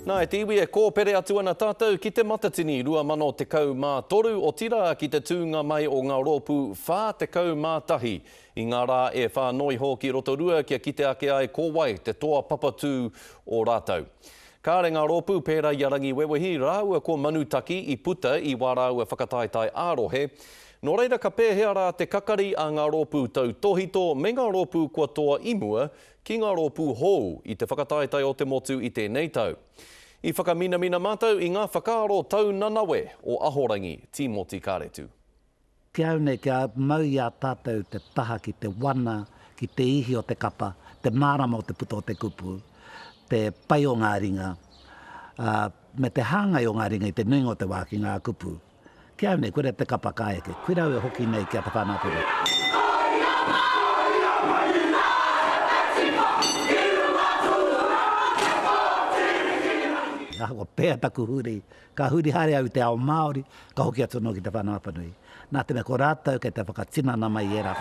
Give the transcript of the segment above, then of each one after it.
Nā, e te iwi e kōpere atu ana tātou ki Te Matatini 2013, otirā ki te tūnga mai o ngā rōpū 41 i ngā rā e whā noa iho ki Rotorua kia kite ake ai ko wai te toa papatū o rātou. Kāre ngā rōpū pērā i a Rangiwewehi rāua ko Manutaki i puta i wā rāua whakataetae ā-rohe. Nō reira ka pēhea rā te kakari a ngā rōpū tautōhito me ngā rōpū kua toa i mua ki ngā rōpū hou i te whakataetae o te motu i tēnei tau. I whakaminamina mātou i ngā whakaaro tau nanawe o Ahorangi Tīmoti Kāretu. Ki au nei, kia mau i a tātou te taha ki te wana, ki te ihi o te kapa, te mārama o te puta o te kupu, te pai o ngā ringa, ā, me te hāngai o ngā ringa i te nuinga o te wā ki ngā kupu. Kia nei, koira te kapa ka eke, koira e hoki nei ki a Te Whanapiri. Koira māoria mai i ngā haka tika i runga tūranga te pōtiripirangi. He ahakoa pea taku huri, ka huri haere au i te ao Māori, ka hoki atu anō ki Te Whanapanui. Nā te mea ko rātou kei te whakatinana mai i ērā.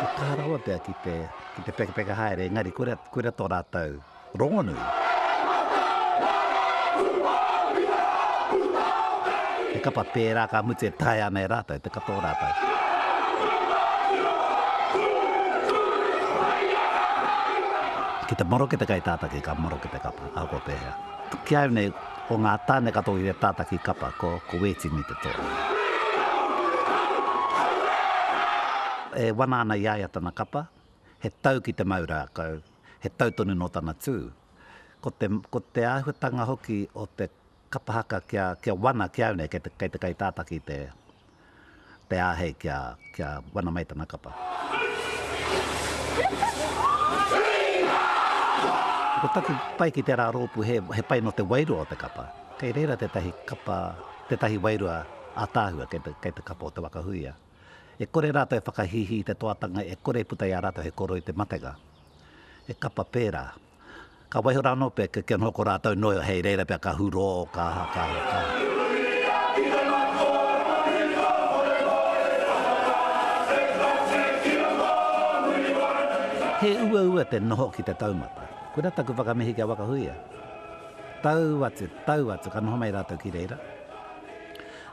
Ka kaha rawa pea ki te pekapeka haere, engari koira tō rātou rongonui. He kapa pērā ka mutu e taea ana e rātou te kapa o rātou. Ki te maroke te kaitātaki ka maroke te kapa, ahakoa pēhea. Ki au nei, Ko ngā tāne katoa ki te tātaki kapa, ko Wētini te toa. E wana ana i a ia tana kapa, he tau ki te mau rākau, he tau tonu nō tana tū. Ko te, ko te āhuatanga hoki o te kapa haka kia, kia wana, kia au nei, kei te, kei te kaitātaki te, te āhei kia wana mai tana kapa. Ko taku pai ki tērā rōpū he pai nō te wairua o te kapa. Kei reira tētahi kapa, tētahi wairua ātaahua kei te kapa o Te Wakahuia. E kore rātou e whakahīhī i te toatanga e kore e puta i a rātou he koroi te matenga. He kapa pērā. Ka waiho rā anō pea kia kī anō ko rātou nōio hei reira pea ka hurō, ka aha, ka aha, ka aha. He uaua te noho ki te taumata. Koirā taku whakamihi ki a Wakahuia. Tau atu, tau atu, ka noho mai rātou ki reira.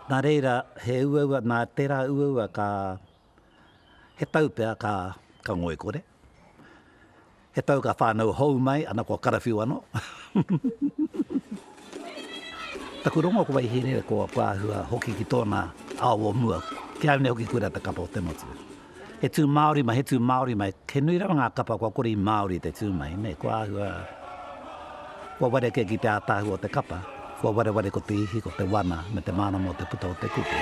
Nā reira, he uaua, nā tērā uaua ka He tau pea ka ngoikore. He tau ka whānau hou mai, ana kua karawhiu anō. Taku rongo ko Waihīrere, ko Pāhua hoki ki tōna ao o mua. Ki au nei hoki kura te kapa o te motu. He tū Māori mai, he tū Māori mai. He nui rawa ngā kapa kua kore i Māori te tū mai, nē, ko Āhua. Kua wareke ki te ātaahu o te kapa, kua wareware ko te ihi, ko te wana, me te mārama o te puta o te kupu.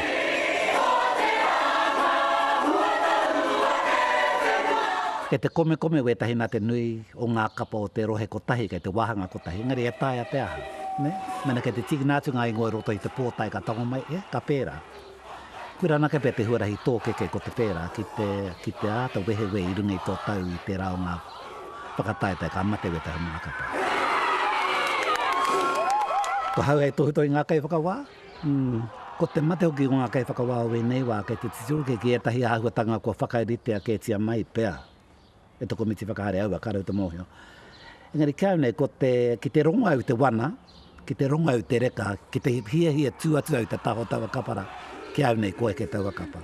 Kei te komekome wētahi nā te nui o ngā kapa o te rohe kotahi, kei te wāhanga kotahi, engari e taea te aha, nē? Mēnā kei te tīkina atu ngā ingoa i roto i te pōtae ka tango mai, e, ka pērā. Koira anake pea te huarahi tōkeke ko te pērā ki te, ki te āta wehewehe i runga i tō tau i tērā o ngā whakataetae ka mate weta he maha katoa. Ko hau hei tohutō i ngā kaiwhakawā, ko te mate hoki o ngā kaiwhakawā o ēnei wā kei te titiro kē ki ētahi āhuatanga kua whakaritea kētia mai pea e te komiti whakahaere aua ka rau te mōhio. Engari kāu nei, ko te, ki te rongo au te wana, ki te rongo au te reka, ki te hiahia tū atu au te taho taua kapara, ki au nei ko eke taua kapa.